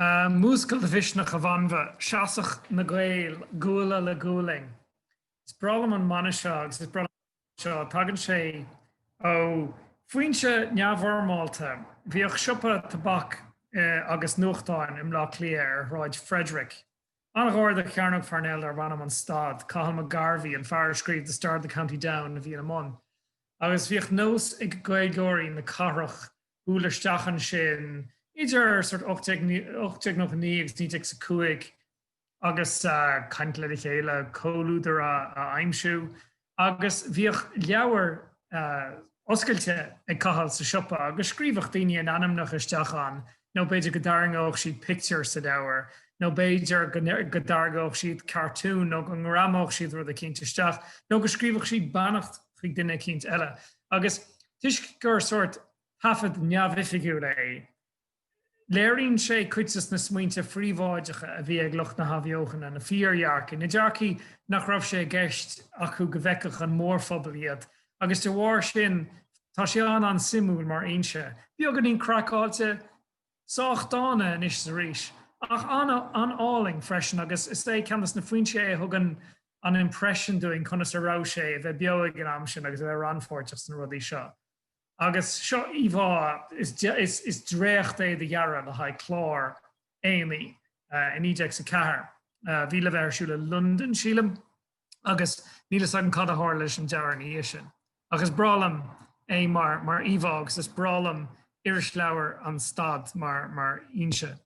Múscail do mhisneach, a Bhanbha! Seasadh na Gaeil guala le gualainn. Is breá liom an mana seo agus is breá liom seo. Tagann sé ó foinse neamhfhoirmeálta. Bhíodh siopa tobac agus nuachtáin i mBleá Cliath ar Shráid Frederick. An-ghar do Chearnóg Pharnell darbh ainm An Stad. Cathal McGarvey, an fear a scríobh The Star of the County Down, a bhí ina mbun. Agus bhíodh nós ag Gaeilgeoirí na cathrach bualadh isteach ansin idir sórt 1899 agus 1905 agus caint lena chéile, comhluadar a aimsiú agus bhíodh leabhar oscailte ag Cathal sa siopa agus scríobhadh daoine a n-ainmneacha isteach ann nó b'fhéidir go dtarraingeodh siad pictiúr sa leabhar nó b'fhéidir go dtarraingeodh siad cartún nó go ngreamódh siad rud eicínt isteach nó go scríobhfadh siad beannacht chuig duine eicínt eile agus Toisc gur sórt taifead neamhoifigiúil é, léiríonn sé cuid des na smaointe phríobháideacha a bhí ag lucht na hAthbheochana, na fíordhearcaidh, na dearcaidh nach raibh sé i gceist acu go bhfeicfeadh an mórphobal iad, agus de bharr sin, tá sé an-an-suimiúil mar fhoinse. Beagáinín craiceáilte? Sách dána anois is arís, ach an-álainn freisin agus is é ceann des na foinsí é a thugann an impression dúinn conas a raibh sé a bheith beo ag an am sin agus a bheith rannpháirteach sna rudaí seo. Agus seo íomhá, is dréacht é de dhearadh le haghaidh clár aonaigh i 1904 a bhí le bheith ar siúl i Londain, sílim. agus níl fhios agam cad a tharla leis an dearadh ina dhiaidh sin. Ach is breá liom é mar íomhá agus is breá liom irisleabhar an Stad mar fhoinse.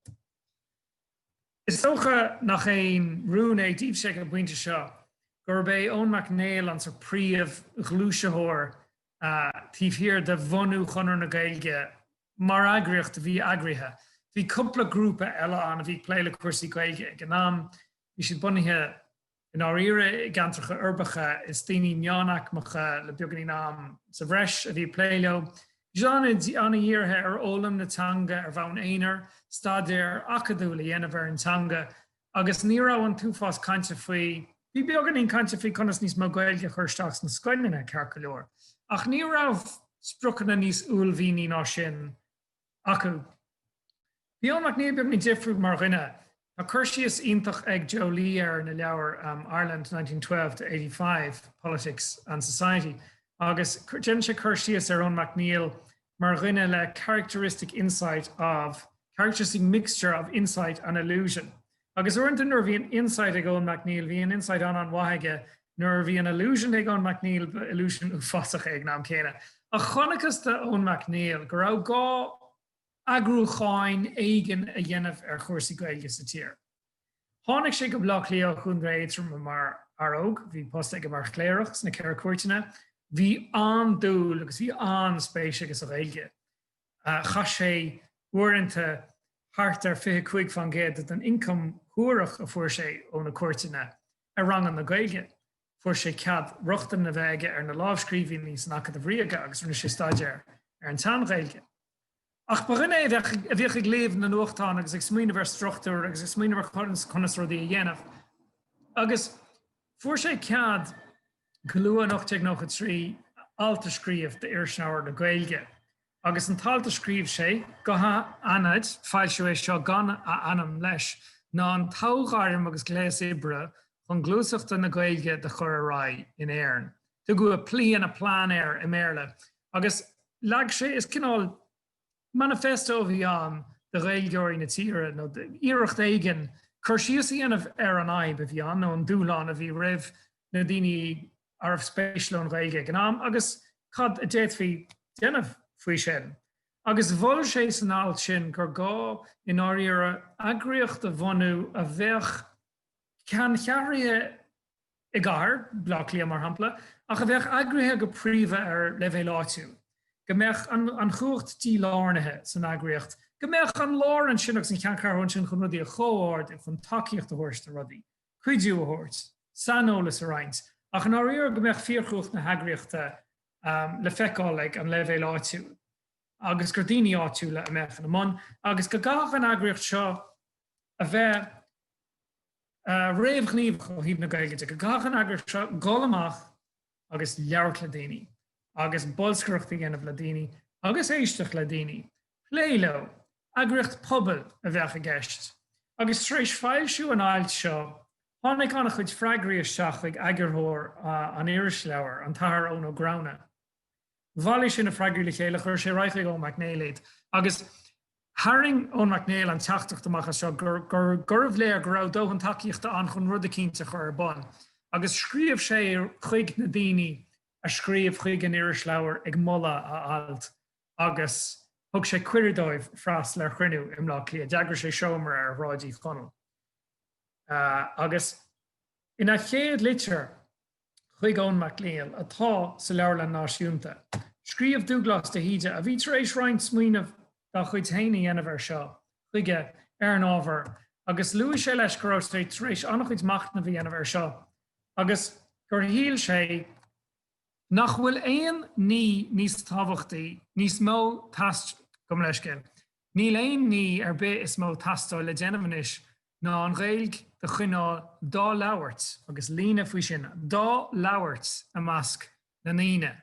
Is dócha nach aon rún é daoibhse ag an bpointe seo gurb é Eoin Mac Néill an sórt príomhghluaisitheoir taobh thiar de bhunú Chonradh na Gaeilge mar eagraíocht a bhí eagraithe. Bhí cúpla grúpa eile ann a bhí ag plé le cúrsaí Gaeilge ag an am. Bhí siad bunaithe. I ndáiríre, i gceantracha uirbeacha, is daoine meánaicmeacha le beagainín am sa bhreis a bhí ag plé leo. Bhí siad an-dhírithe ar fhoghlaim na teanga ar bhonn aonair, staidéar acadúil a dhéanamh ar an teanga, agus ní raibh an t-uafás cainte faoi. Bhí beagainín cainte faoi conas níos mó Gaeilge a chur isteach sna scoileanna, ceart go leor, ach ní raibh spriocanna níos uaillmhianaí ná sin acu. Bhí Eoin Mac Néill beagainín difriúil mar dhuine. Tá cur síos iontach ag Joe Lee air ina leabhar Ireland 1912-85, Politics and Society agus déanann sé cur síos ar Eoin Mac Néill mar dhuine le characteristic insight of characteristic mixture of insight and illusion. Agus uaireanta nuair a bhí an insight ag Eoin MacNeill, bhí an insight an-an-mhaith aige, nuair a bhí an illusion ag Eoin MacNeill, ba illusion uafásach é ag an am céanna. Ach chonacthas do Eoin MacNeill go raibh gá eagrúcháin éigin a dhéanamh ar chúrsaí Gaeilge sa tír. Tháinig sé go Baile Átha Cliath ó Chontae Aotroma mar fhear óg, bhí post aige mar chléireach sna Ceithre Cuairteanna, bhí an-dúil agus bhí an-spéis aige sa Ghaeilge. Chaith sé uaireanta thart ar fiche cúig fán gcéad den ioncam suarach a fuair sé ó na cuairteanna ar ranganna Gaeilge. Fuair sé cead rochtain a bheith aige ar na lámhscríbhínní san Acadamh Ríoga agus rinne sé staidéar ar an tSean-Ghaeilge. Ach ba dhuine é a bhíodh ag léamh na nuachtán agus ag smaoineamh ar struchtúr agus ag smaoineamh ar conas rudaí a dhéanamh agus fuair sé cead go luath in 1893 alt a scríobh d'Irisleabhar na Gaeilge. Agus an t-alt a scríobh sé, go hanaithnid, foilsíodh é seo gan a ainm leis, ná an toghairm agus gléas oibre chun gluaiseachta na Gaeilge do chur ar aghaidh in Éirinn. Tugadh a plea and a plan air i mBéarla agus leag sé, is cineál, Manifesto a bhí ann do Ghaeilgeoirí na tíre, nó iarracht éigin cur síos a dhéanamh ar an fhadhb a bhí ann, nó an dúshlán a bhí roimh na daoine arbh spéis leo an Ghaeilge ag an am, agus cad a d'fhéadfaí déanamh faoi sin. Agus mhol sé san alt sin gur gá, i ndáiríre, eagraíocht a bhunú a bheadh ceanncheathraithe i gcathair Bhleá Cliath mar shampla, ach a bheadh eagraithe go príomha ar leibhéal áitiúil, go mbeadh an chumhacht dílárnaithe san eagraíocht, go mbeadh an lár ansin agus an cheanncheathrú ansin chun rudaí a chomhordú, chun tacaíocht a thabhairt do rudaí, cuidiú a thabhairt, saineolas a roinnt, ach i ndáiríre go mbeadh fíorchumhacht na heagraíochta le feiceáil ag an leibhéal áitiúil agus gur daoine áitiúla a mbeadh ina mbun agus go gcaithfeadh an eagraíocht seo a bheith réamhghníomhach ó thaobh na Gaeilge de, go gcaithfeadh an eagraíocht seo dhul amach agus labhairt le daoine agus bolscaireacht a dhéanamh le daoine agus éisteacht le daoine, plé leo, eagraíocht pobail a bheadh i gceist. Agus tar éis foilsiú an ailt seo, tháinig an-chuid freagraí isteach chuig eagarthóir an irisleabhair, an tAthair Eoin Ó Gramhna. Bhailigh sé na freagraí le chéile, chuir sé ar aghaidh chuig Eoin Mac Néill iad agus tharraing Eoin Mac Néill an teachtaireacht amach as seo gur gurbh léir go raibh dóthain tacaíochta ann chun rud eicínt a chur ar bun. Agus scríobh sé chuig na daoine a scríobh chuig an irisleabhar ag moladh a ailt agus thug sé cuireadh dóibh freastal ar chruinniú i mBleá Cliath. D'eagraigh sé seomra ar Shráid Uí Chonaill. Agus ina chéad litir, chuig Eoin Mac Néill, atá sa Leabharlann Náisiúnta. Scríobh Dúglás de hÍde, a bhí tar éis roinnt smaoineamh dá chuid féin a dhéanamh air seo, chuige ar an ábhar agus luaigh sé leis go raibh sé tar éis an-chuid machnaimh a dhéanamh air seo agus gur shíl sé nach bhfuil aon ní níos tábhachtaí, níos mó teast, gabh mo leithscéal Níl aon ní ar bith is mó teastáil le déanamh anois ná an Ghaeilg do choinneáil dá labhairt agus líne faoi sin, dá labhairt i measc na ndaoine.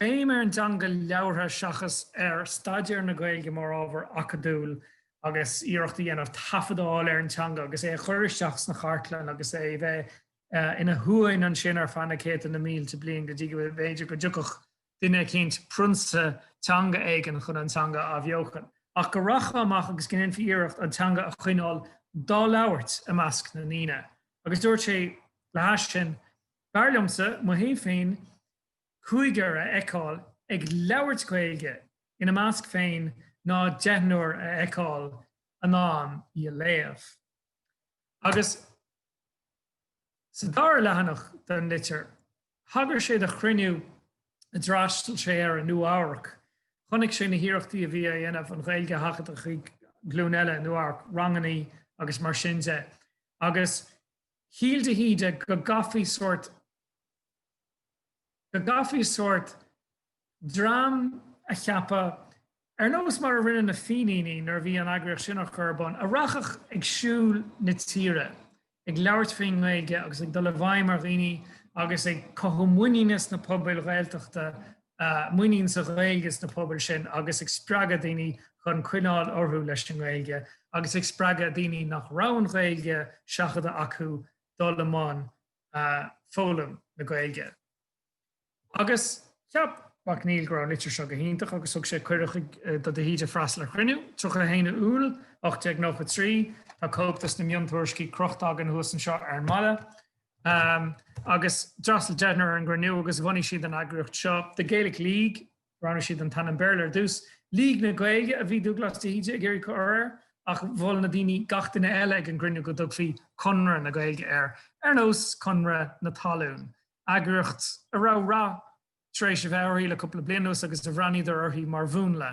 Béim ar an teanga labhartha seachas ar staidéar na Gaeilge mar ábhar acadúil agus iarracht a dhéanamh taifead a fháil ar an teanga agus é a chur isteach sna chartlann agus é bheith ina shuain ansin ar feadh na céadta na mílte bliain go dtí go mb'fhéidir go dtiocfadh duine eicínt, prionsa teanga éigin, chun an teanga a athbheochan, ach go rachfá amach agus go ndéanfaí iarracht an teanga a choinneáil dá labhairt i measc na ndaoine. Agus dúirt sé, le hais sin, B'fhearr liomsa mo thaobh féin cúigear a fheiceáil ag labhairt Gaeilge ina measc féin ná deichniúr a fheiceáil in ann í a léamh. Agus sa dara leathanach den litir. Thagair sé do chruinniú a d'fhreastail sé air i Nua-Eabhrac. Chonaic sé na hiarrachtaí a bhí á dhéanamh an Ghaeilge a sheachadadh chuig glúin eile i Nua-Eabhrac, rangannaí agus mar sin de, agus shíl de hÍde go gcaithfí sórt. dream a cheapadh, ar nós mar a rinne na Fíníní nuair a bhí an eagraíocht sin á chur ar bun, a rachfadh ag siúl na tíre, ag labhairt faoin nGaeilge agus ag dul i bhfeidhm ar dhaoine agus ag cothú muiníne sna pobail Ghaeltachta, muinín sa Ghaeilge sna pobail sin agus ag spreagadh daoine chun coinneáil orthu leis an nGaeilge agus ag spreagadh daoine nach raibh an Ghaeilge seachadta acu dul i mbun foghlaim na Gaeilge. Agus cheap Mac Néill go raibh an litir seo go hiontach agus thug sé cuireadh chuig do De hÍde freastal ar chruinniú. 31 Iúil 1893. Tá cóip dos na miontuairiscí crochta againn thuas anseo ar an mballa. Agus d'fhreastal deichniúr ar an gcruinniú agus bhunaigh siad an eagraíocht seo, The Gaelic League. Roghnaigh siad an t-ainm Béarla ar dtús. League na Gaeilge a bhí Dúghlás De hÍde ag iarraidh a chur air ach mhol na daoine gach duine eile ag an gcruinniú go dtugfaí Conradh na Gaeilge air, ar nós Conradh na Talún. eagraíocht a raibh rath tar éis a bheith uirthi le cúpla bliain anuas agus a bhreathnaíodar uirthi mar mhúnla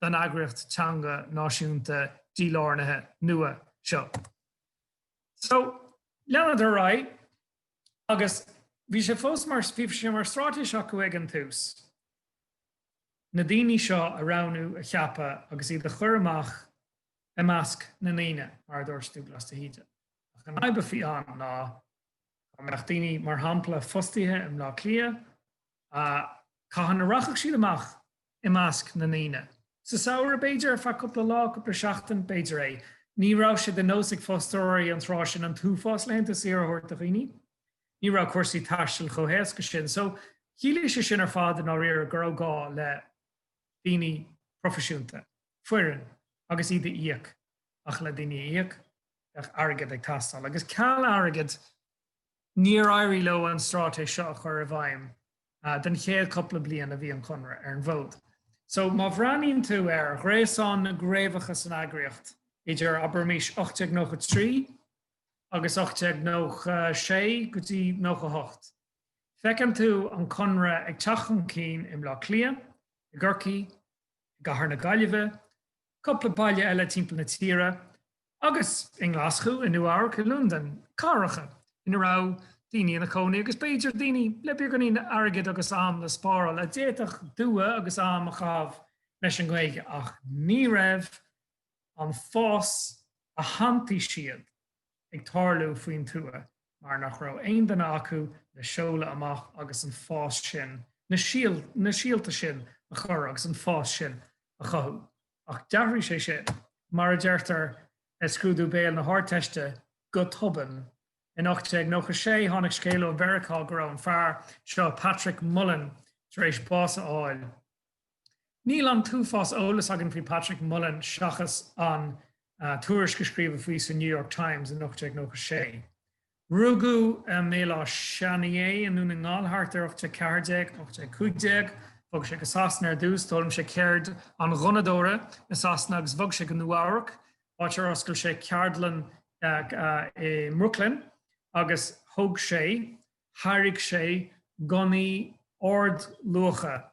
don eagraíocht teanga náisiúnta dílárnaithe nua seo. So, leanadar ar aghaidh agus bhí sé fós mar, bhí sé mar straitéis acu ag an tús na daoine seo a roghnú, a cheapadh agus iad a chur amach i measc na ndaoine, mar a dúirt Dúbhghlas de hÍde. Ach an fhadhb a bhí ann ná Dá mbeadh daoine, mar shampla, fostaithe i mBleá Cliath, cathain a rachadh siad amach i measc na ndaoine? Sa samhradh, b'fhéidir, ar feadh cúpla lá, cúpla seachtain, b'fhéidir. Ní raibh sé de nós ag fostóirí an tráth sin an t-uafás laethanta saoire a thabhairt do dhaoine. Ní raibh cúrsaí taistil chomh héasca sin, so chiallaigh sé sin ar fad, i ndáiríre, go raibh gá le daoine proifisiúnta, foireann, agus iad a íoc, ach le daoine a íoc. bheadh airgead ag teastáil, agus ceal airgid níor éirigh leo an straitéis seo a chur i bhfeidhm don chéad cúpla bliain a bhí an Conradh ar an bhfód. So má bhreathnaíonn tú ar ghréasán na gcraobhacha san eagraíocht idir, abraimis, 1893 agus 1896 go dtí 98, feiceann tú an Conradh ag teacht chun cinn i mBleá Cliath, i gCorcaigh, i gCathair na Gaillimhe, cúpla baile eile timpeall na tíre, agus i nGlaschú, i Nua-Eabhrac, i Londain, cathracha ina raibh daoine ina gcónaí agus b'fhéidir daoine le beagáinín airgid agus am le spáráil a d'fhéadfadh dua agus am a chaitheamh leis an nGaeilge ach ní raibh an fás a shantaigh siad ag tarlú faoin tuath mar nach raibh aon duine acu le seoladh amach agus an fás sin, na síolta sin a chur agus an fás sin a chothú. Ach d'athraigh sé sin, mar a deirtear i scrúdú béil na hArdteiste, go tobann. In 1896 tháinig scéal ó Mheiriceá go raibh an fear seo, Patrick Mullen, tar éis bás a fháil. Níl an t-uafás eolas againn faoi Patrick Mullen seachas an tuairisc a scríobhadh faoi sa New York Times in 1896. Rugadh i mBéal Áth Seanaidh i nDún na nGall thart ar 1814, 1815. Bhog sé go Sasana ar dtús, d'fhoghlaim sé ceird an ghunnadóra i Sasana agus bhog sé go Nua-Eabhrac, áit ar oscail sé ceardlann i mBrooklyn agus thóg sé, tháirg sé gunnaí ardluacha.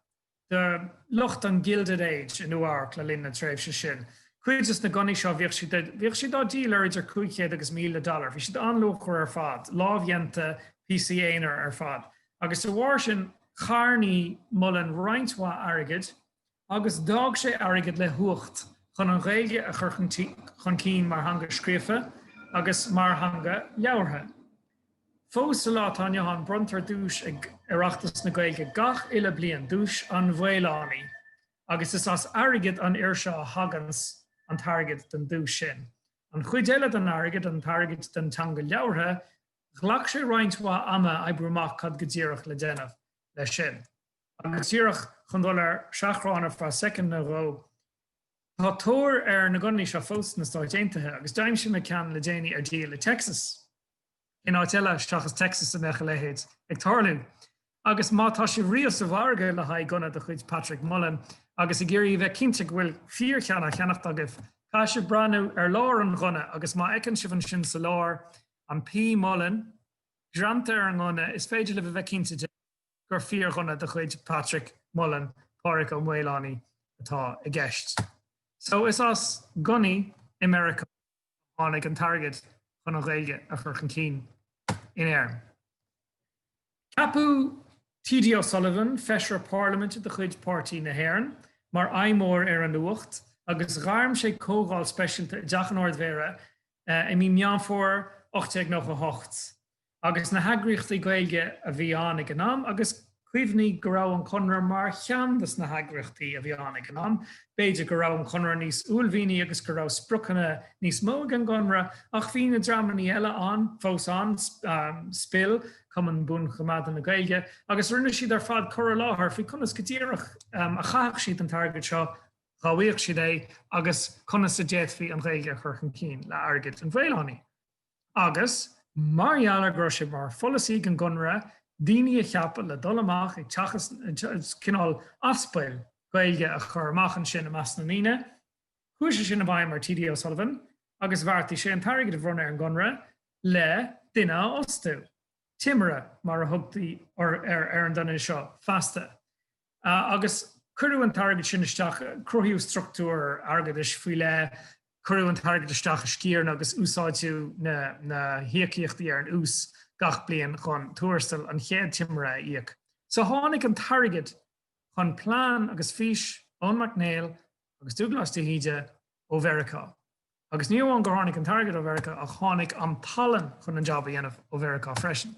de lucht an Gilded Age i Nua-Eabhrac le linn na tréimhse sin. Cuid de na gunnaí seo, bhíodh siad dá ndíol ar idir 500 agus 1,000 dollar. Bhí siad an-luachmhar ar fad, lámhdhéanta, píosaí aonair ar fad, agus de bharr sin charnaigh Mullen roinnt mhaith airgid, agus d'fhág sé airgead le huacht chun an Ghaeilge a chur chun cinn mar theanga scríofa agus mar theanga labhartha. Fós sa lá atá inniu ann bronntar duais ag Oireachtas na Gaeilge gach uile bliain, Duais an Mhaolánaigh, agus is as airgead an fhir seo a thaganns an t-airgead don duais sin. An chuid eile den airgead, an t-airgead don teanga labhartha, ghlac sé roinnt mhaith ama a oibriú amach cad go díreach le déanamh leis sin. Agus díreach chun dul ar seachrán ar feadh soicind nó dhó, Tá tóir ar na gunnaí seo fós sna Stáit Aontaithe agus d'aimsigh mé ceann le déanaí ar díol i dTexas. Cén áit eile seachas Texas a mbeadh a leithéid ag tarlú? Agus má tá sibh riamh sa mhargadh le haghaidh gunna de chuid Patrick Mullen agus ag iarraidh a bheith cinnte go bhfuil fíorcheann á cheannacht agaibh, caithfidh sibh breathnú ar lár an ghunna agus má fheiceann sibh ansin sa lár an P Mullen greanta ar an ngunna, is féidir libh a bheith cinnte de gur fíorghunna de chuid Patrick Mullen, Pádhraic Ó Maolánaí, atá i gceist. So is as gunnaí i Meiriceá a tháinig an t-airgead chun an Ghaeilge a chur chun cinn in Éirinn. Ceapadh T.D. O'Sullivan, Feisire Parlaiminte de chuid Páirtí na hÉireann, mar fheidhmeoir ar an uacht agus ghairm sé comhdháil speisialta i dTeach an Ard-Mhéara i mí Meán Fómhair 1898. agus na heagraíochtaí Gaeilge a bhí ann ag an am agus cuimhnigh go raibh an Conradh mar cheann dos na heagraíochtaí a bhí ann ag an am. B'fhéidir go raibh an Conradh níos uaillmhianaí agus go raibh spriocanna níos mó ag an gConradh ach bhí na dreamannaí eile ann, fós ann, SPIL, Cumann Buanchoimeádta na Gaeilge, agus rinne siad ar fad cur i láthair faoi conas go díreach a chaithfeadh siad an t-airgead seo, dhá bhfaigheadh siad é, agus conas a d'fhéadfaí an Ghaeilge a chur chun cinn le hairgead an Mhaolánaigh. agus, mar gheall go raibh sé mar pholasaí ag an gConradh daoine a cheapadh le dul amach ag teagasc, cineál aspail Ghaeilge a chur amach ansin i measc na ndaoine, chuaigh sé sin i bhfeidhm ar T.D. O'Sullivan agus bheartaigh sé an t-airgead a bhronnadh ar an gConradh le duine a fhostú, timire mar a thugtaí ar an duine seo feasta. Agus cuireadh an t-airgead sin isteach, cruthaíodh struchtúr airgeadais faoi leith, cuireadh an t-airgead isteach i sciaranna agus úsáideadh na híocaíochtaí ar an ús gach bliain chun tuarastal an chéad timire a íoc. So tháinig an t-airgead chun plean agus fís Eoin Mhic Néill agus Dúglás De hÍde ó Mheiriceá. Agus ní amháin gur tháinig an t-airgead ó Mheiriceá ach tháinig an talann chun an jab a dhéanamh ó Mheiriceá freisin.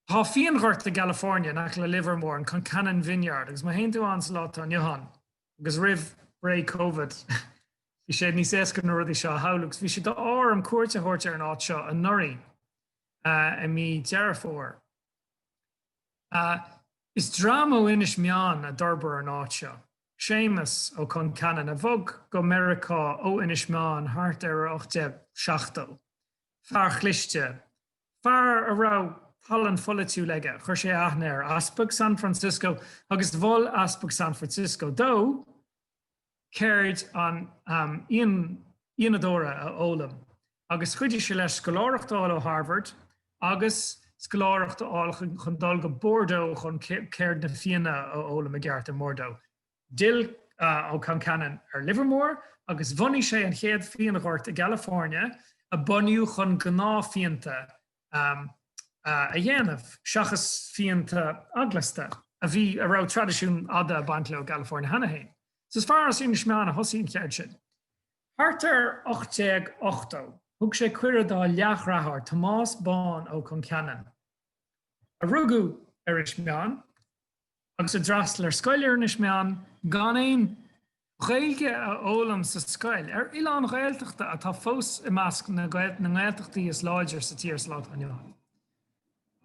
Tá fíonghort i gCalifornia in aice le Livermore, an Concannon Vineyard, agus má théann tú ann sa lá atá inniu ann, agus roimh ré Covid, bhí sé níos éasca na rudaí seo a shamhlú, agus bhí sé d'ádh orm cuairt a thabhairt ar an áit seo anuraidh, i mí Dheireadh Fómhair. Is dream ó Inis Meáin a d'fhorbair an áit seo. Séamas Ó Concheanainn, a bhog go Meiriceá ó Inis Meáin thart ar 1870. Fear cliste, Fear a raibh tallann pholaitiúil aige. Chuir sé aithne ar Easpag San Francisco agus mhol Easpag San Francisco dó ceird an fhíonadóra a fhoghlaim agus chuidigh sé leis scoláireacht a fháil ó Harvard agus scoláireacht a fháil chun dul go Bordeaux chun ceird na fíona a fhoghlaim i gceart i mBordeaux. D'fhill Ó Concheanainn ar Livermore agus bhunaigh sé an chéad fíonghort i gCalifornia a bunaíodh chun gnáthfhíonta a dhéanamh seachas fíonta eaglasta, a bhí, a raibh traidisiún fhada ag baint leo i gCalifornia cheana féin. So is fear as Inis Meáin a thosaigh an cheird sin. Thart ar 1880, thug sé cuireadh dá leathdhreatháir Tomás Bán Ó Concheanainn, a rugadh ar Inis Meáin, agus a d'fhreastal ar scoil ar Inis Meáin gan aon Ghaeilge a fhoghlaim sa scoil, ar oileán Ghaeltachta atá fós i measc na nGaeltachtaí is láidre sa tír sa lá atá inniu ann.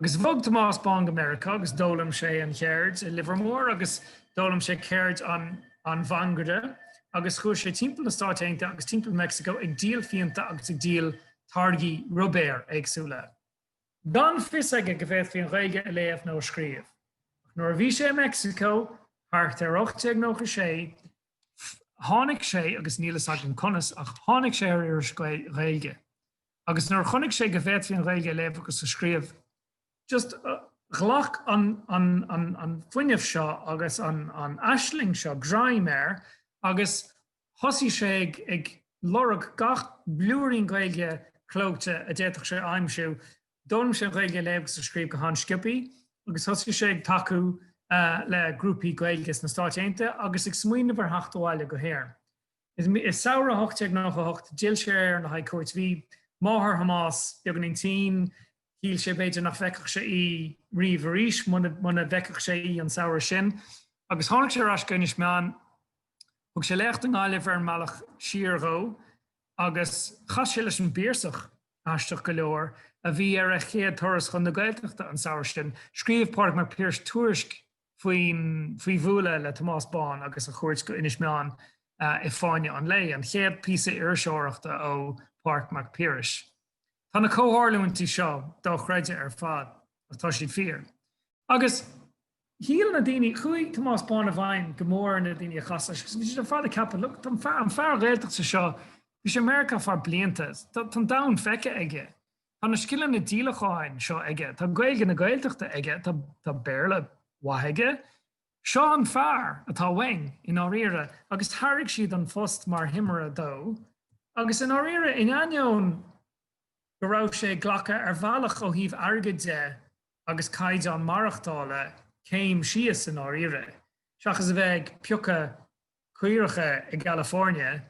Agus bhog Tomás Bán go Meiriceá agus d'fhoghlaim sé an cheird i Livermore agus d'fhoghlaim sé ceird an mhangaire agus chuaigh sé timpeall na Stát Aontaithe agus timpeall Meicsiceo ag díol fíonta agus ag díol táirgí ruibéir éagsúla. gan fios aige go bhféadfaí an Ghaeilge a léamh nó a scríobh. Ach nuair a bhí sé i Meicsiceo, thart ar 1896, tháinig sé, agus níl fhios agam conas, ach tháinig sé ar iris Ghaeilge. Agus nuair a chonaic sé go bhféadfaí an Ghaeilge a léamh agus a scríobh, just, ghlac an fuinneamh seo agus an aisling seo greim air agus Thosaigh sé ag, ag lorg gach blúirín Gaeilge clóite a d'fhéadfadh sé a aimsiú. D'fhoghlaim sé an Ghaeilge a léamh agus a scríobh go han-sciobthaí agus thosaigh sé ag tacú le grúpaí Gaeilge sna Stáit Aontaithe agus ag smaoineamh ar theacht abhaile go hÉirinn. I samhradh 98 d'fhill sé ar Éirinn le haghaidh cuairt. Bhí máthair Thomáis beagáinín tinn. Shíl sé, b'fhéidir, nach bhfeicfeadh sé í riamh arís muna bhfeicfeadh sé í an samhradh sin agus tháinig sé ar ais go Inis Meáin. Thug sé léacht i nGaillimh ar an mbealach siar dhó agus chas sé leis an bPiarsach aisteach go leor a bhí ar a chéad turas chun na Gaeltachta an samhradh sin. Scríobh Pádraig Mac Piarais tuairisc faoi, faoi bhualadh le Tomás Bán agus a chuairt go Inis Meáin i Fáinne an Lae, an chéad píosa iriseoireachta ó Phádraig Mac Piarais. Tá na comhtharlúintí seo dochreidte ar fad ach tá siad fíor. Agus shíl na daoine, chuaigh Tomás Bán i bhfeidhm go mór ar na daoine a chas leis, agus bhí siad ar fad ag ceapadh, look, tá an fear Ghaeltachta seo, bhí sé i Meiriceá ar feadh blianta, tá an domhan feicthe aige, tá na scileanna díolacháin seo aige, tá Gaeilge na Gaeltachta aige, tá Béarla mhaith aige, seo an fear atá uainn, i ndáiríre. Agus thairg siad an phost mar thimire dó, agus i ndáiríre, in ainneoin go raibh sé ag glacadh, ar bhealach, ó thaobh airgid de, agus caighdeán maireachtála céim síos i ndáiríre, seachas a bheith ag piocadh caoracha i gCalifoirnea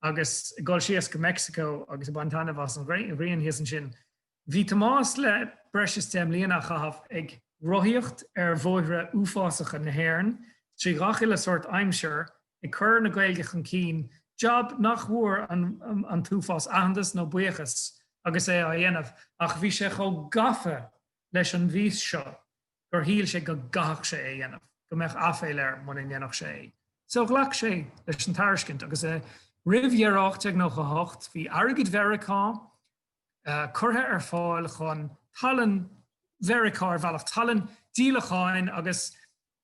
agus ag dul síos go Meicsiceo agus ag baint taitneamh as an ghrian thíos ansin. Bhí Tomás le breis is deich mbliana a chaitheamh ag rothaíocht ar bhóithre uafásacha na hÉireann, trí ghach uile shórt aimsir, ag cur na Gaeilge chun cinn, jab nach bhfuair an t-uafás aitheantas nó buíochas agus é á dhéanamh, ach bhí sé chomh gafa leis an bhfís seo gur shíl sé go gcaithfeadh sé é a dhéanamh, go mbeadh aiféal air muna ndéanfadh sé é. So ghlac sé leis an tairiscint agus roimh dheireadh 1898 bhí airgead Mheiriceá curtha ar fáil chun tallann Mheiriceá, ar bhealach, tallann díolacháin agus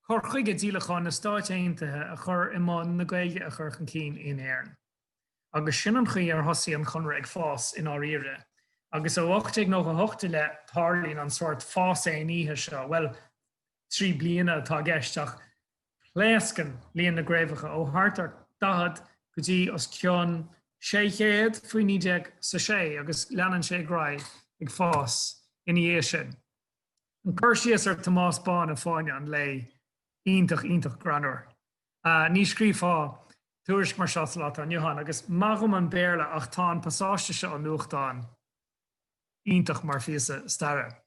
Cur chuige díolacháin na Stáit Aontaithe a chur i mbun na Gaeilge a chur chun cinn in Éirinn. Agus sin an chaoi ar thosaigh an Conradh ag fás i ndáiríre. Agus ó 1898 i leith tarlaíonn an sórt fás aon oíche seo, bhuel, trí bliana atá i gceist ach pléascann líon na gcraobhacha ó thart ar 40 go dtí os cionn 600 faoi 19 is a sé agus leanann sé ar aghaidh ag fás ina dhiaidh sin. An cur síos ar Thomás Bán i Fáinne an Lae iontach, iontach greannúr. Ní scríobfá tuairisc mar seo sa lá atá inniu ann. Agus maith dhom an Béarla ach tá an pasáiste seo ón nuachtán iontach mar phíosa staire.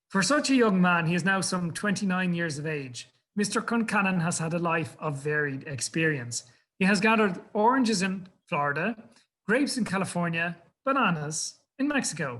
For such a young man, he is now some twenty-nine years of age, Mister Concannon has had a life of varied experience. He has gathered oranges in Florida, grapes in California, bananas in Mexico.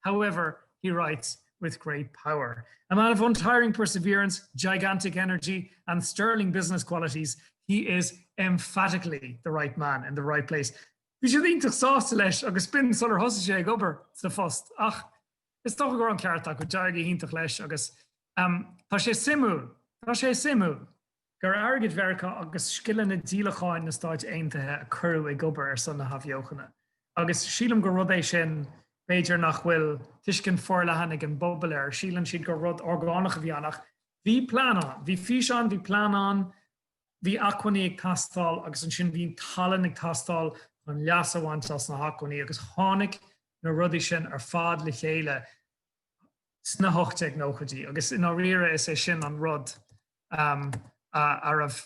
However, he writes with great power. A man of untiring perseverance, gigantic energy and sterling business qualities, he is emphatically the right man in the right place. Bhí siad iontach sásta leis agus b'in sular thosaigh sé ag obair sa phost ach is dócha go raibh an ceart acu, d'éirigh iontach leis agus tá sé suimiúil, tá sé suimiúil. gur airgead Mheiriceá agus scileanna díolacháin na Stáit Aontaithe a cuireadh ag obair ar son na hathbheochana. Agus sílim gur rud é sin, b'fhéidir, nach bhfuil tuiscint forleathan ag an bpobal air. Síleann siad gur rud orgánach a bhí ann. Ach bhí plean ann. Bhí fís ann, bhí plean ann, bhí acmhainní ag teastáil agus ansin bhí tallann ag teastáil chun leas a bhaint as na hacmhainní agus tháinig na rudaí sin ar fad le chéile sna hocht déag nóchaidí. Agus i ndáiríre, is é sin an rud. a raibh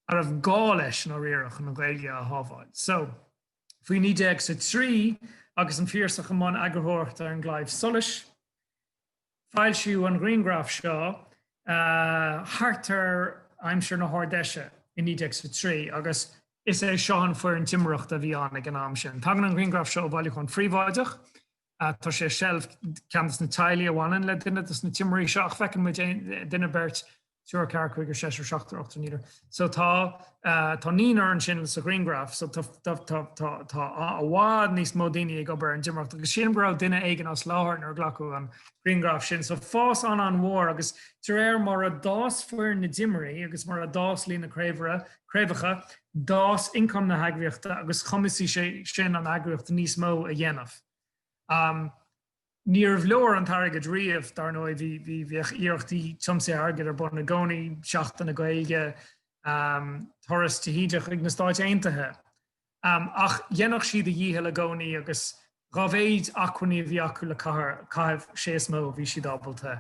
a raibh gá leis i ndáiríre chun an Ghaeilge a shábháil. So, faoi naoi déag is a trí, agus an Phiarsach i mbun eagarthóireachta ar an gClaidheamh Soluis, foilsíodh an ghrianghraf seo, thart ar aimsir na hArd-Fheise i naoi déag is a trí, agus is é seo an foireann timireachta a bhí ann ag an am sin. Tagann an ghrianghraf seo ó bhailiúchán phríobháideach Tá sé i seilbh ceann dos na teaghlaigh a bhaineann le duine dos na timirí seo ach feiceann muid aon duine beirt, triúr, ceathrar, cúigear, seisear, seachtar, ochtar, naonúr. So tá tá naonúr ansin sa ghrianghraf. So tá tá tá tá tá i bhfad níos mó daoine ag obair ar an dtimireacht agus sílim go raibh duine éigin as láthair nuair a glacadh an grianghraf sin. So fás an-an-mhór agus de réir mar a d'fhás fórsa na dtimirí agus mar a d'fhás líon na craobhaire craobhacha, d'fhás income na heagraíochta agus chumasaigh sé sin an eagraíocht níos mó a dhéanamh. Níorbh leor an t-airgead riamh, dar ndóigh, bhíodh iarrachtaí tiomsaithe airgid ar bun i gcónaí, Seachtain na Gaeilge, Turas de hÍde chuig na Stáit Aontaithe. Ach dhéanfadh siad a ndícheall i gcónaí agus dhá mhéid acmhainní a bhí acu le caitheamh sé is mó a bhí siad ábalta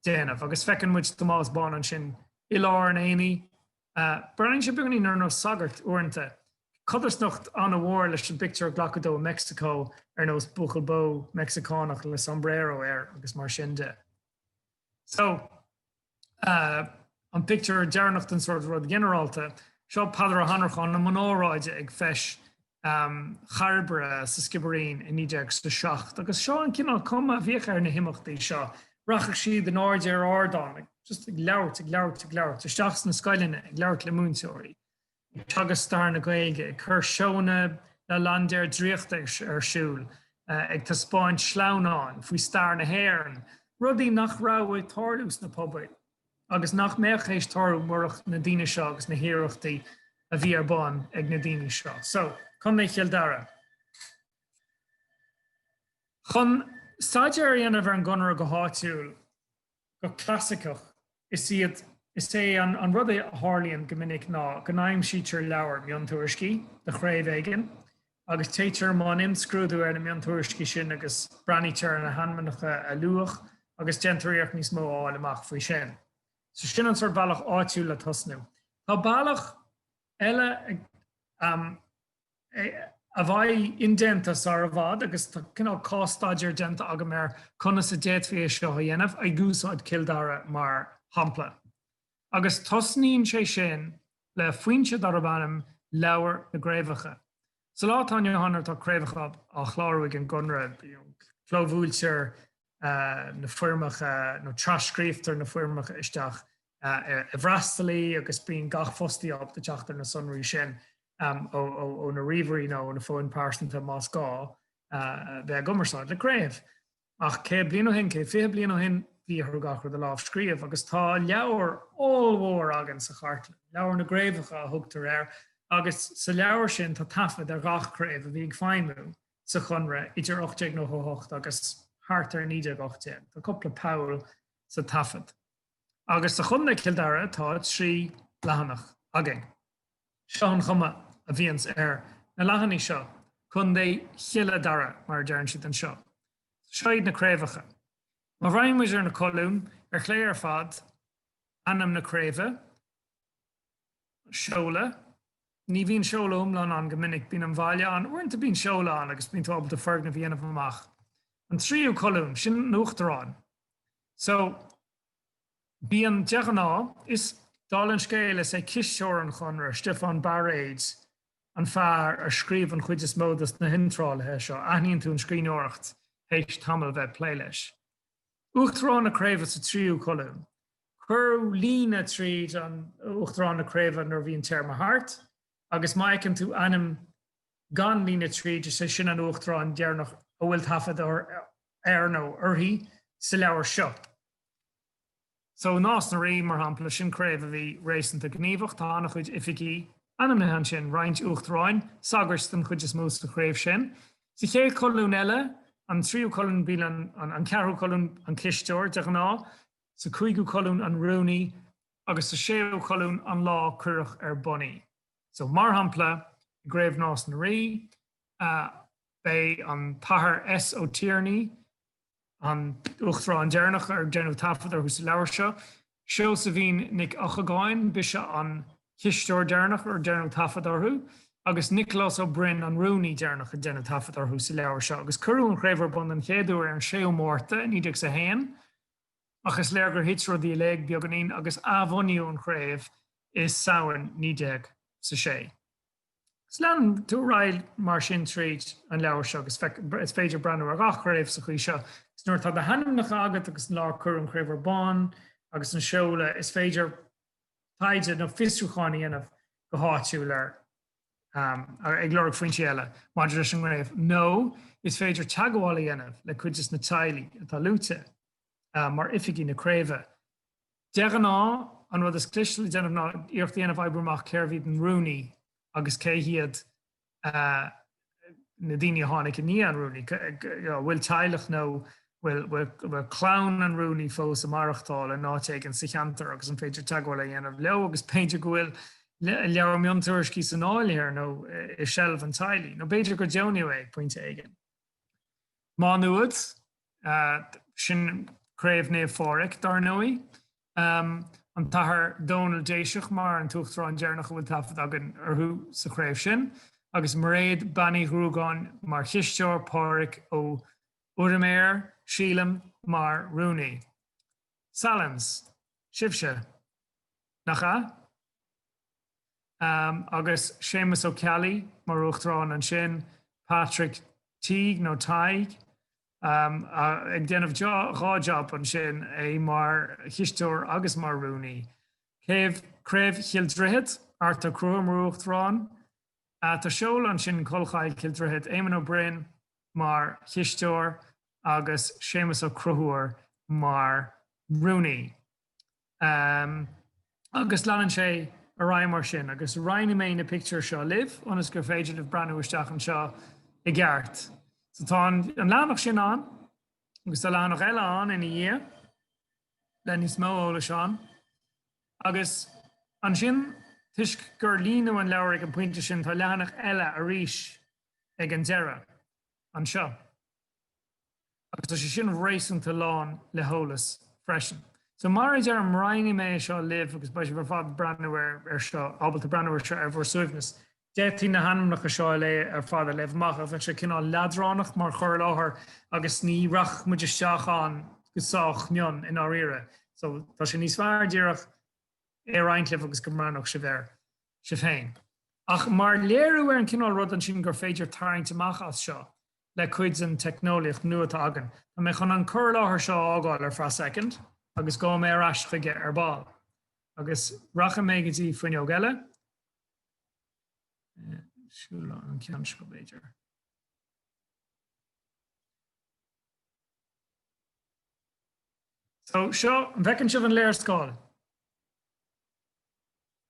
déanamh. Agus feiceann muid Tomás Bán ansin i lár an aonaigh. Breathnaíonn sé beagainín ar nós sagart uaireanta. Codarsnacht an-mhór leis an bpictiúr a glacadh de i Meicsiceo ar nós buachaill bó Meicsiceánach le sombrero air agus mar sin de. So an pictiúr deireanach den sórt rud ginearálta. Seo Peadar Ó hAnnracháin i mbun óráide ag Feis Chairbre sa Sciobairín i 1907 agus seo an cineál cuma a bhíodh ar na himeachtaí seo. Rachadh siad in airde ar ardán just ag labhairt, ag labhairt, ag labhairt isteach sna scoileanna, ag labhairt le múinteoirí. ag teagasc stair na Gaeilge, ag cur seónna le laindéir draíochta ar siúl, ag taispeáint sleamhnáin faoi stair na hÉireann, rudaí nach raibh ag tarlú sna pobail agus nach mbeadh théis tarlú murach na daoine seo agus na hiarrachtaí a bhí ar bun ag na daoine seo. So, Contae Chill Dara. Chun staidéar a dhéanamh ar an gConradh go háitiúil, go clasaiceach, is iad, is é an an rud a tharlaíonn go minic ná go n-aimsítear leabhar, miontuairiscí, de chraobh éigin agus téitear i mbun imscrúdú ar na miontuairiscí sin agus breathnaítear ar na hainmneacha a luadh agus déantar iarracht níos mó a fháil amach faoi sin. So sin an sórt bealach áitiúil le tosnú. Tá bealach eile a bheidh indéanta sar i bhfad agus tá cineál cás-staidéar déanta agam ar conas a d'fhéadfaí é seo a dhéanamh, ag úsáid Cill Dara mar shampla. Agus tosnaíonn sé sin le foinse darb ainm Leabhar na gCraobhacha. Sa lá atá inniu ann tá craobhacha á chlárú ag an gConradh, clóbhuailtear na foirmeacha nó tras-scríobhtar na foirmeacha isteach i bhfreastalaí agus bíonn gach fostaí ábalta teacht ar na sonraí sin ó na ríomhairí nó ó na fóin pearsanta más gá bheith i gcumarsáid le craobh. Ach céad bliain ó shin, céad fiche bliain ó shin, bhí orthu gach rud a lámhscríobh agus tá leabhar ollmhór againn sa chartlann, Leabhar na gCraobhacha a thugtar air, agus sa leabhar sin tá taifead ar ghach craobh a bhí ag feidhmiú sa Conradh idir 1898 agus thart ar 1918. Tá cúpla poll sa taifead. Agus sa Chontae Chill Dara tá trí leathanach againn. Seo an chuma a bhíonns ar na leathanaigh seo, Contae Chille Dara mar a deireann siad anseo. Seo iad na craobhacha. Má bhreathnaíonn muid ar na colúin, ar chlé ar fad, ainm na craoibhe, seoladh. Ní bhíonn seoladh iomlán ann go minic, bíonn an baile ann. Uaireanta bíonn seoladh ann agus bíonn tú ábalta foirgneamh a dhéanamh amach. An tríú colún, sin an t-uachtarán. So, bíonn, de ghnáth, is, dála an scéil, is é cisteoir an Chonartha, Stiofán Bairéid, an fear a scríobh an chuid is mó dos na hiontrálacha seo. Aithníonn tú an scríbhneoireacht théis tamall bheith ag plé leis. Uachtarán na craoibhe sa tríú colún. Cuireadh líne tríd an Uachtarán na Craoibhe nuair a bhíonn téarma thart, agus má fheiceann tú ainm gan líne tríd, is é sin an Uachtarán deireanach a bhfuil taifead air nó uirthi sa leabhar seo. So Nás na Rí, mar shampla, sin craobh a bhí réasúnta gníomhach. Tá an-chuid oifigeach ainmnithe ansin, roinnt Uachtaráin, sagairt den chuid is mó sa chraobh sin. Sa chéad cholún eile, an tríú colún, bhuel an ceathrú colún, an cisteoir, de ghnáth, Sa cúigiú colún an rúnaí agus sa séú colún an lá cuireadh ar bun í. So, mar shampla, i gCraobh Nás na Rí, b'é an tAthair S. Ó Tiarnaigh, an t-uachtarán deireanach, ar déanadh taifead air sa leabhar seo. Seosaimhín Nic Eochagáin, b'ise an cisteoir deireanach, ar déanadh taifead uirthi. Agus Nioclás Ó Broin, an rúnaí deireanach, ar déanadh taifead air sa leabhar seo. Agus cuireadh an chraobh ar bun den chéad uair ar an 6ú Márta, 1901. ach is léir gur thit rudaí i léig beagáinín agus athbhunaíodh an chraobh i Samhain 1906. Agus leanann tú ar aghaidh mar sin tríd an leabhar seo agus is féidir breathnú ar gach craobh sa chaoi seo. Is nuair atá na hainmneacha agat agus an lá ar cuireadh an chraobh ar bun agus an seoladh, is féidir taighde nó fiosrúchán a dhéanamh go háitiúil air. ag lorg foinsí eile maidir leis an gcraobh nó is féidir teagmháil a dhéanamh le cuid des na teaghlaigh atá luaite mar oifigigh na craoibhe. De ghnáth, an rud is cliste le déanamh ná iarracht a dhéanamh oibriú amach cérbh iad an rúnaí agus cé hiad na daoine a tháinig i ndiaidh an rúnaí, an bhfuil teaghlach nó bhfuil clann an rúnaí fós ag maireachtáil in áit éigin sa cheantar agus an féidir teagmháil a dhéanamh leo agus b'fhéidir go bhfuil leabhar miontuairiscí san áiléar nó i seilbh an teaghlaigh, nó b'fhéidir gur deonaíodh é ag pointe éigin. Má Nuad, sin Craobh Naomh Phádraig dar ndóigh. an tAthair Dónal Déiseach mar an tUachtarán deireanach a bhfuil taifead againn orthu sa chraobh sin, agus Mairéad Bean Uí Ghruagáin mar chisteoir, Pádraig Ó Uiriméir, sílim, mar rúnaí. Sallins. Sibhse. Nach ea? Agus Séamas Ó Ceallaigh mar Uachtarán ansin, Patrick Teague nó Tadhg, ag déanamh dhá job ansin, é mar chisteoir agus mar rúnaí. Craobh, Craobh Chill Droichid, Art Ó Conchúir mar Uachtarán. Tá seoladh ansin Collchoill, Cill Droichid, Éamonn Ó Broin mar chisteoir agus Séamus Ó Conchúir mar rúnaí. agus leanann sé ar aghaidh mar sin. Agus roinnfidh mé na pictiúir seo libh ionas gur féidir libh breathnú isteach anseo i gceart. So tá an leathanach sin ann agus tá leathanach eile ann ina dhiaidh le níos mó eolais ann. Agus ansin toisc gur líonadh an leabhar ag an pointe sin tá leathanach eile arís ag an deireadh anseo. Agus tá sé sin réasúnta lán le heolas freisin. So mar a deirim, roinnfidh mé é seo libh agus beidh sibh ar fad breathnú air seo, ábalta breathnú air seo ar bhur suaimhneas. D'fhéadfaí na hainmneacha seo a léamh ar fad, a léamh amach ach bheadh sé cineál leadránach mar chur i láthair agus ní rachadh muid isteach ann go sách mion i ndáiríre. So tá sé níos fearr díreach é a roinnt libh agus go mbreathnódh sibh air sibh féin. Ach mar léiriú ar an cineál rud ansin gur féidir tarraingt amach as seo, le cuid den teicneolaíocht nua atá againn. Tá mé chun an cur i láthair seo a fhágáil ar feadh soicind agus gabhfaidh mé ar ais chuige ar ball. Agus rachaidh mé go dtí fuinneog eile. Sílim an ceann seo b'fhéidir. So seo, an bhfeiceann sibh an léarscáil?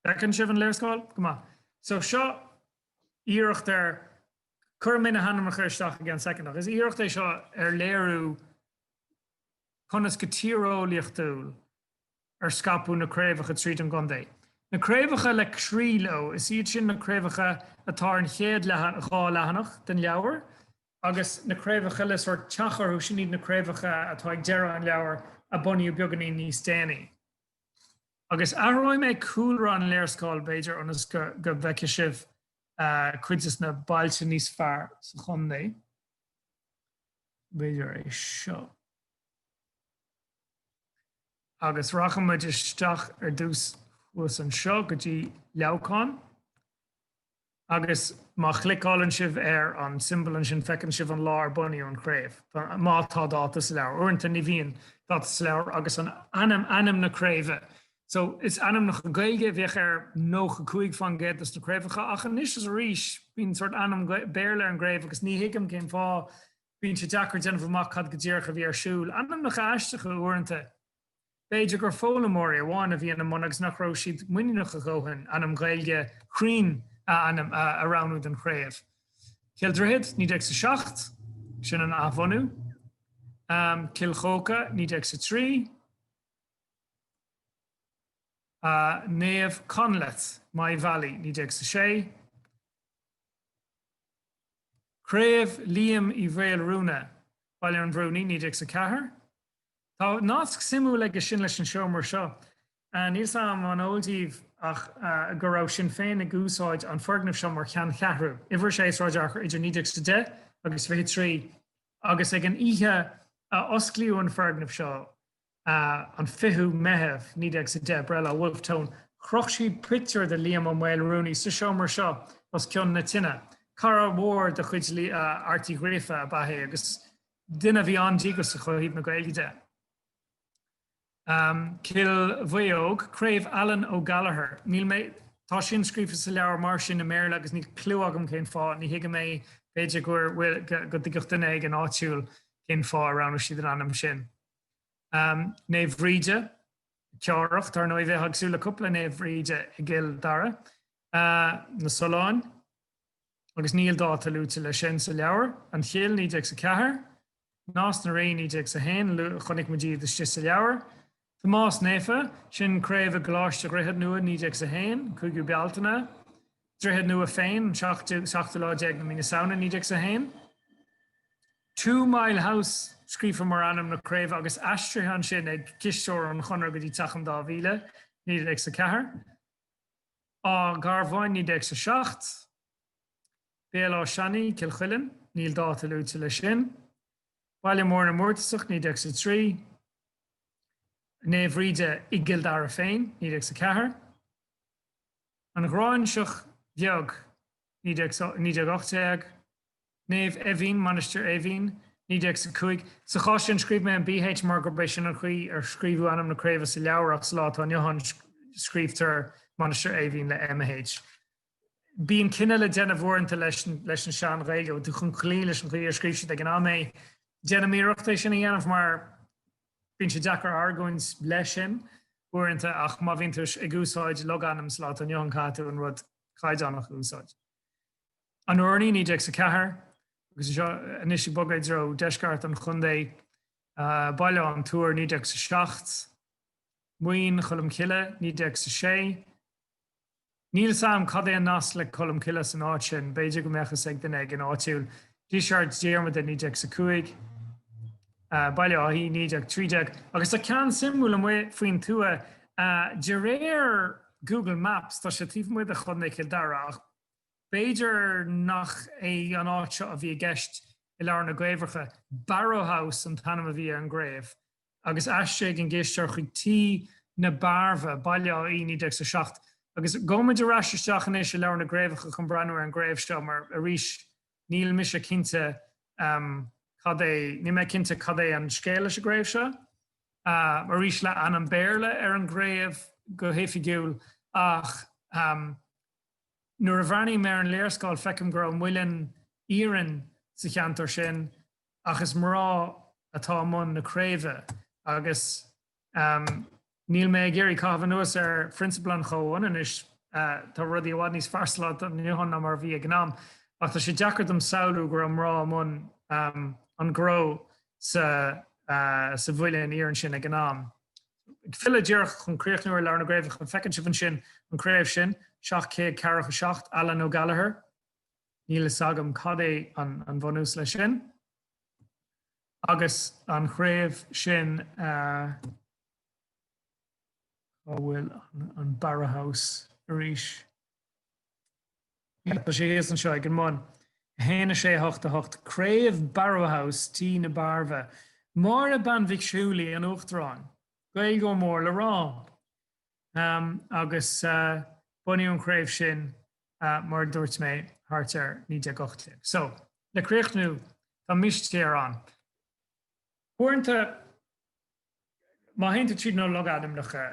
Bhfeiceann sibh an léarscáil? Go maith. So seo iarracht ar Cuirfidh mé na hainmneacha isteach i gceann soicind, ach is iarracht é seo ar léiriú conas go tíreolaíochtúil ar scaipeadh na craobhacha tríd an gcontae. Na craobhacha le croí leo, is iad sin na craobhacha atá ar an chéad dhá leathanach den leabhar, agus na craobhacha le sórt teach orthu, sin iad na craobhacha atá ag deireadh an leabhair, a bunaíodh beagáinín níos déanaí. Agus athróidh mé cúlra an léarscáil, b'fhéidir, ionas go bhfeicfidh sibh cuid dos na bailte níos fearr sa chontae. B'fhéidir é seo. Agus rachaidh muid isteach ar dtús thuas anseo go dtí Leamhcán. Agus má chliceálann sibh ar an siombail ansin feiceann sibh an lá ar bunaíodh an chraobh. Má tá dáta sa leabhar. Uaireanta ní bhíonn dáta sa leabhar agus an ainm, ainm na craoibhe So, is ainmneacha Gaeilge a bheadh ar nócha cúig fán gcéad dos na craobhacha ach anois is arís bíonn sórt ainm Béarla ar an gcraobh agus ní thuigim cén fáth bíonn sé deacair déanamh amach cad go díreach a bhí ar siúl. Ainmneacha aisteacha uaireanta. B'fhéidir gur foghlaimeoirí amháin a bhí ina mbun agus nach raibh siad muiníneach a dhóthain ainm Gaeilge cruinn a ainm a roghnú don chraobh. Cill Droichead, naoi déag is a seacht, sin an athbhunú. Um, Cill Chóca, naoi déag is a trí. Naomh Conleth, Maigh Bhealaigh, 19 sa 6. Craobh Liam Uí Mhaolruanaidh, Baile an Bhrúnaigh, 19 sa 4. Tá nasc suimiúil aige sin leis an seomra seo. Níl 's a'm an eol díbh ach go raibh Sinn Féin ag úsáid an foirgneamh seo mar cheanncheathrú, Uimhir 6 Sráid Fhearchair idir 1910 agus 23, agus ag an oíche a osclaíodh an foirgneamh seo, an 20ú Meitheamh 19 sa 10 breithlá Wolfe Tone. Chroch siad pictiúr de Liam Ó Maolruanaidh sa seomra seo os cionn na tine. Cara mhór de chuid Airt Uí Ghríofa ab ea é agus duine a bhí an-díograiseach ó thaobh na Gaeilge de. Cill Mhaodhóg, Craobh Alan O Gallagher. Níl mé, tá sin scríofa sa leabhar mar sin i mBéarla agus níl cliú agam cén fáth, ní thuigim é, b'fhéidir go dtuigfeadh duine éigin áitiúil cén fáth a roghnaigh siad an ainm sin. Naomh Bhríde, Ceárach, dar ndóigh bheifeá ag súil le cúpla Naomh Bhríde i gCill Dara. Na Solláin, agus níl dáta luaite leis sin sa leabhar, an Chill, naoi déag is a ceathair. Nás na Ríogh, naoi déag is a haon, chonaic muid iad istigh sa leabhar. Tomás Naofa, sin craobh i gColáiste Dhroichead Nua, naoi déag is a haon, cúigiú Bealtaine. Droichead Nua féin an seachtú lá déag na mí na Samhna naoi déag is a haon. Two Mile House scríofa mar ainm na craobh agus aistrithe ansin ag cisteoir an Chonradh go dtí Teach an Dá Mhíle, naoi déag is a ceathair. Áth Garbháin, naoi déag is a seacht. Béal Átha Seanaidh, Cill Chuilinn, níl dáta luaite leis sin. Baile Mór na nIústasach, naoi déag is a trí. Naomh Bhríde i gCill Dara féin, naoi déag is a ceathair. An Ghráinseach Bheag, 1918, Naomh Éimhín, Mainistir Eimhín, 1905, Sa chás sin scríobh mé an bh mar gurb é sin an chaoi ar scríobhadh ainm na craobhe sa leabhar ach sa lá atá inniu ann scríobhtar Mainistir Eimhín le mh. Bíonn cinneadh le déanamh uaireanta leis an Sean-Ghaeilge chun cloí leis an chaoi ar scríobh siad ag an am é. Déanaim iarracht é sin a dhéanamh mar. Bíonn sé deacair argóint leis sin, uaireanta, ach má bhíonn tú ag úsáid logainm sa lá atá inniu ann, caithfidh tú an rud caighdeánach a úsáid. An urnaí 1904, agus anseo anois ag bogadh i dtreo dheisceart an chontae, Baile an Túir 1907, Maoin Cholm Cille 1906, Níl 's a'm cad é an nasc le Colmcille san áit sin, b'fhéidir go mbeadh a fhios ag duine éigin áitiúil, Díseart Diarmada 1905, Baile Átha Í 1913, agus tá ceann suimiúil amuigh faoin tuath, de réir Google Maps tá sé taobh amuigh de Chontae Chill Dara ach b'fhéidir nach é an áit seo a bhí i gceist i leabhar na gCraobhacha. Barrow House an t-ainm a bhí ar an gCraobh. agus ainm an chisteora chuig Tí na Bearbha, Baile Átha Í, 1907. Agus gabhaimid ar ais isteach anois i leabhar na gcraobhacha chun breathnú ar an gcraobh seo mar, arís, níl mise cinnte cad é, níl mé cinnte cad é an scéal leis an gcraobh seo. Arís, le ainm Béarla ar an gcraobh go hoifigiúil, ach nuair a bhreathnaím ar an léarscáil feicim go raibh muileann iarainn sa cheantar sin ach is mná atá i mbun na craoibhe agus níl mé ag iarraidh caitheamh anuas ar phrionsabail an chomhionannais, tá rudaí i bhfad níos fearr sa lá atá inniu ann ná mar a bhí ag an am, ach tá sé deacair dom samhlú go raibh mná i mbun an ghnó sa mhuileann iarainn sin ag an am. Ag filleadh díreach chun críochnú ar leabhar na gcraobhacha, feiceann sibh ansin an craobh sin, 747, Allen O'Gallagher. Níl fhios agam cad é an bunús leis sin agus an chraobh sin a Cá bhfuil an Barrow House arís? Tá sé thíos anseo ag an mbun. 1, 6, 8, 8, Craobh Barrow House, Tí na Bearbha. Máire Bean Mhic Siúil í an tUachtarán. Gael mór le rá. Agus bunaíodh an chraobh sin mar a dúirt mé thart ar 1918. So, le críochnú, tá mistéir ann. Uaireanta, má théann tú tríd na logainmneacha,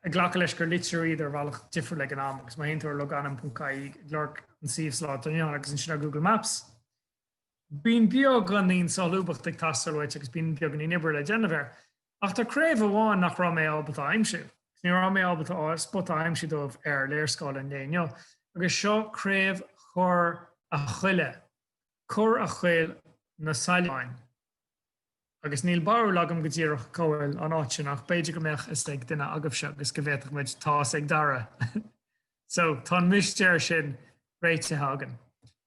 ag glacadh leis gur litríodh iad ar bhealach difriúil ag an am, agus má théann tú ar logainm.ie, ag lorg an suíomh slán ann agus ansin ar Google Maps, bíonn beagáinín solúbthacht ag teastáil uait agus bíonn beagáinín oibre le déanamh air. Ach tá craobh amháin nach raibh mé ábalta a aimsiú, agus ní raibh mé ábalta spota a aimsiú dóibh ar léarscáil an lae inniu, agus seo craobh Chorr a' Choille, Corr a' Choill na Saileáin. Agus níl barúil agam go díreach cá bhfuil an áit sin, ach b'fhéidir go mbeadh fhios ag duine agaibhse agus go bhféadfadh muid Tá's ag Dara! So, tá an mistéir sin réitithe againn.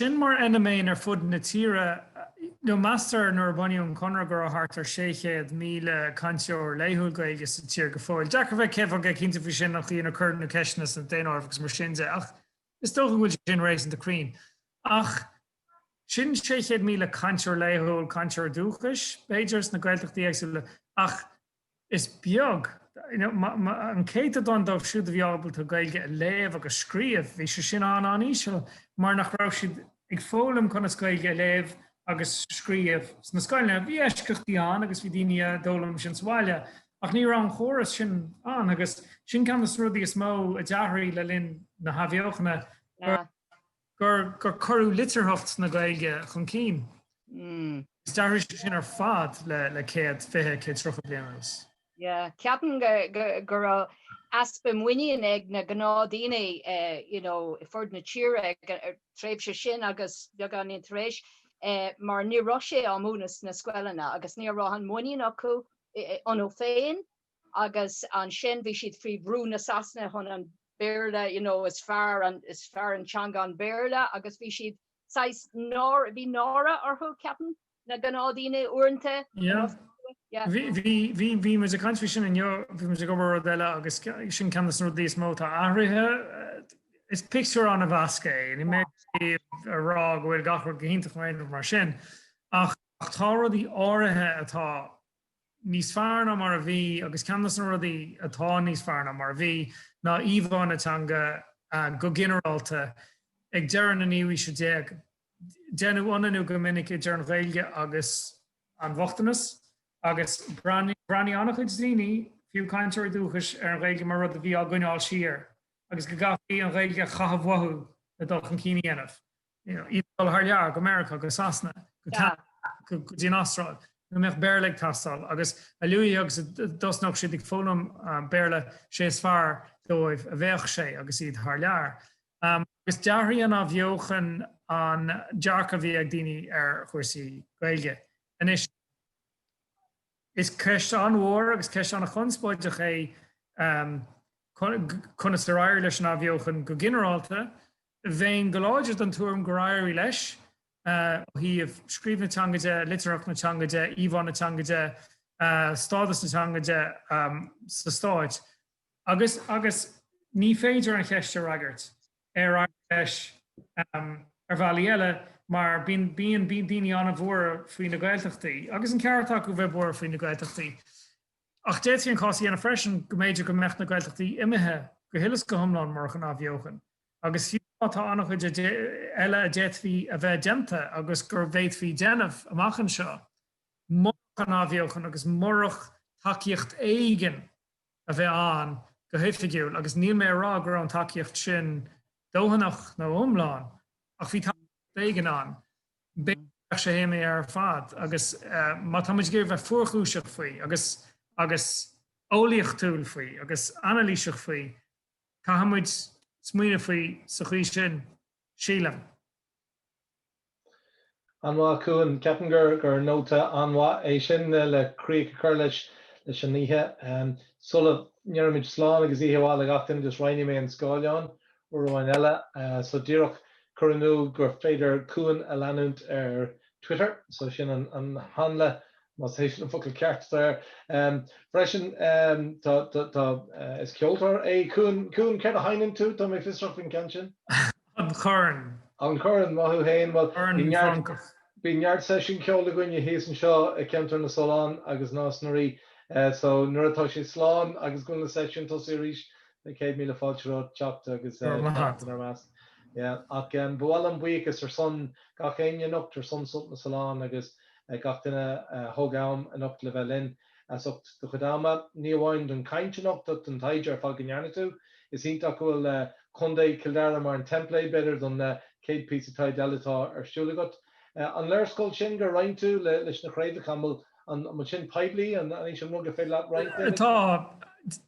Sin mar fheiniméan ar fud na tíre nó meastar nuair a bunaíodh an Conradh go raibh thart ar 600,000 cainteoir laethúil Gaeilge sa tír go fóill. Deacair bheith céad faoin gcéad cinnte faoi sin mar níor cuireadh na ceisteanna sna daonáirimh agus mar sin de ach is dócha go bhfuil sin réasúnta cruinn. Ach sin 600,000 cainteoir laethúil, cainteoir dúchais, b'fhéidir, sna Gaeltachtaí éagsúla ach is beag an céatadán díobh siúd a bhí ábalta Gaeilge a léamh agus scríobh, bhí sé sin an-an-íseal mar nach raibh siad ag foghlaim conas Gaeilge a léamh agus scríobh sna scoileanna. Bhí eisceachtaí ann agus bhí daoine a d'fhoghlaim sin sa bhaile ach ní raibh an córas sin ann agus sin ceann de na rudaí is mó a d'athraigh le linn na hathbheochana gur gur cuireadh litearthacht na Gaeilge chun cinn. Is d'athraigh sé sin ar fad le céad, fiche, céad tríocha bliain anuas. Ceapaim go raibh easpa muinín ag na gnáthdhaoine ar fud na tíre ag an tréimhse sin agus beagáinín tar éis mar ní raibh sé á múineadh sna scoileanna agus ní raibh an muinín acu iontu féin. agus ansin bhí siad faoi bhrú na Sasana chun an Béarla, you know, is fearr an, is fearr an teanga an Béarla agus bhí siad saghas náire, bhí náire orthu, ceapaim, na gnáthdhaoine uaireanta, you know, yeah. Bhí, bhí, bhí muid ag caint faoi sin inniu, bhí muid ag obair ar rud eile agus sin ceann de na rudaí is mó atá athraithe, is pictiúr an-mheasctha é, ní maith liom a rá go bhfuil gach rud go hiontach mar sin, ach tá rudaí áirithe atá níos fearr ná mar a bhí agus ceann dos na rudaí atá níos fearr ná mar a bhí ná íomhá na teanga go ginearálta. Ag deireadh na naoú aoise déag deineadh ionannú go minic idir an Ghaeilge agus an bochtanas agus breathnaigh an-chuid daoine, fiú cainteoirí dúchais, ar an Ghaeilge mar rud a bhí á gcoinneáil siar agus go gcaithfí an Ghaeilge a chaitheamh uathu le dul chun cinn a dhéanamh. iad ag dul thar lear, go Meiriceá, go Sasana, go Ceanada, go dtí an Astráil, go mbeadh Béarla ag teastáil. Agus a luaithe agus a thosnódh siad ag foghlaim Béarla, sé is fearr dóibh a bheadh sé agus iad thar lear. Agus d'athraigh an athbheochan an dearcadh a bhí ag daoine ar chúrsaí Gaeilge. Anois, is ceist an-mhór agus ceist an-chonspóideach é conas ar éirigh leis an athbheochan go ginearálta, Bheinn go láidir den tuairim gur éirigh leis, ó thaobh scríobh na teanga de, litearthacht na teanga de, íomhá na teanga de, stádas na teanga de sa Stát agus agus ní féidir an cheist a fhreagairt, ar éirigh leis ar bhealaí eile mar bíonn bíonn bíonn daoine an-bhuartha faoi na Gaeltachtaí agus an ceart acu bheith buartha faoi na Gaeltachtaí. Ach d'fhéadfaí an cás a dhéanamh freisin go mb'fhéidir go mbeadh na Gaeltachtaí imithe go huile is go hiomlán murach an athbheochan. agus fiú má tá an-chuid eile a d'fhéadfaí a bheith déanta agus go bhféadfaí déanamh amach anseo, murach an athbheochan agus murach tacaíocht éigin a bheith ann go hoifigiúil, agus níl mé a rá go raibh an tacaíocht sin dóthanach nó iomlán, ach bhí tacaíocht éigin ann, b'fhéidir go mbeadh sé imithe ar fad. Agus má tá muid ag iarraidh bheith fuarchúiseach faoi, agus eolaíochtúil faoi, agus anailíseach faoi, Caithfimid smaoineamh faoi sa chaoi sin, sílim. An-mhaith, a Chuain. Ceapaim gur nóta an-mhaith é sin le críoch a chur leis an oíche. Sula ndéarfaimid slán agus oíche mhaith le gach duine just roinnfidh mé an scáileán uair amháin eile. So díreach cur in iúl gur féidir Cuan a leanúint ar Twitter, so sin an hanla más é sin an focal ceart atá air. Freisin is ceoltóir é Cuan, Cuan céard a sheinneann tú? Tá mé fiosrach faoin gceann sin. An corn. An corn, maith thú fhéin, bhuel bíonn neart, bíonn neart seisiún ceoil againne thíos anseo i gceantar na Sollán agus Nás na Rí, so nuair atá sé slán agus go bhfuil na seisiúin tosaithe arís na céad míle fáilte romhat teacht agus teacht inár measc. Ach ba mhaith liom buíochas ar son gach éinne anocht ar son Sult na Sollán agus gach duine a thug am anocht le bheith linn as ucht do chuid ama, ní amháin don chaint anocht ach don taighde ar fad go ndearna tú. Is iontach go bhfuil Contae Chill Dara mar an template, b'fhéidir, don chéad píosa taighde eile atá ar siúl agat. An léarscáil sin gur roinn tú leis na craobhacha, an bhfuil An bhfuil sé sin poiblí? An é sin an rud gur féidir leat a roinnt linn? Tá.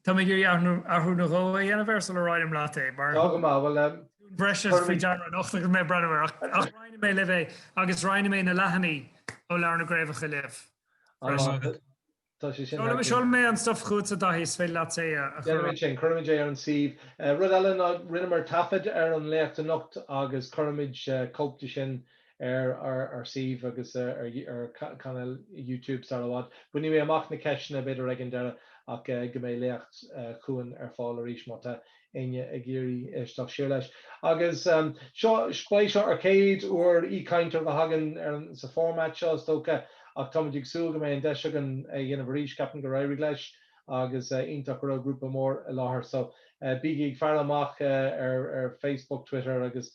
Tá mé ag iarraidh athrú nó dhó a dhéanamh air sula roinnfidh mé leat é. Mar. Tá go maith. Bhuel eh. Thug mé cúpla rud breise faoi deara anocht agus mé ag breathnú air ach roinnfidh mé libh é agus roinnfidh mé na leathanaigh ó Leabhar na gCraobhacha libh. Seolfaidh mé an stuff chugatsa, a Dhaithí, is féidir leat é a chur. Déanfaimid sin, cuirfimid é ar an suíomh. Rud eile ná rinneamar taifead ar an léacht anocht agus cuirfimid cóip de sin ar ár suíomh agus ar chainéal YouTube sar i bhfad. Bainfidh mé amach na ceisteanna b'fhéidir ag an deireadh ach go mbeidh léacht Chuain ar fáil arís má tá éinne ag iarraidh éisteacht siar leis. Agus seo, b'é seo ár gcéad uair aoichainteoir a bheith againn ar sa format seo is dócha ach táimid ag súil go mbeidh an deis againn é a dhéanamh arís. Ceapaim gur éirigh leis agus is iontach go raibh grúpa mór i láthair. So bígí ag faire amach ar Facebook, Twitter agus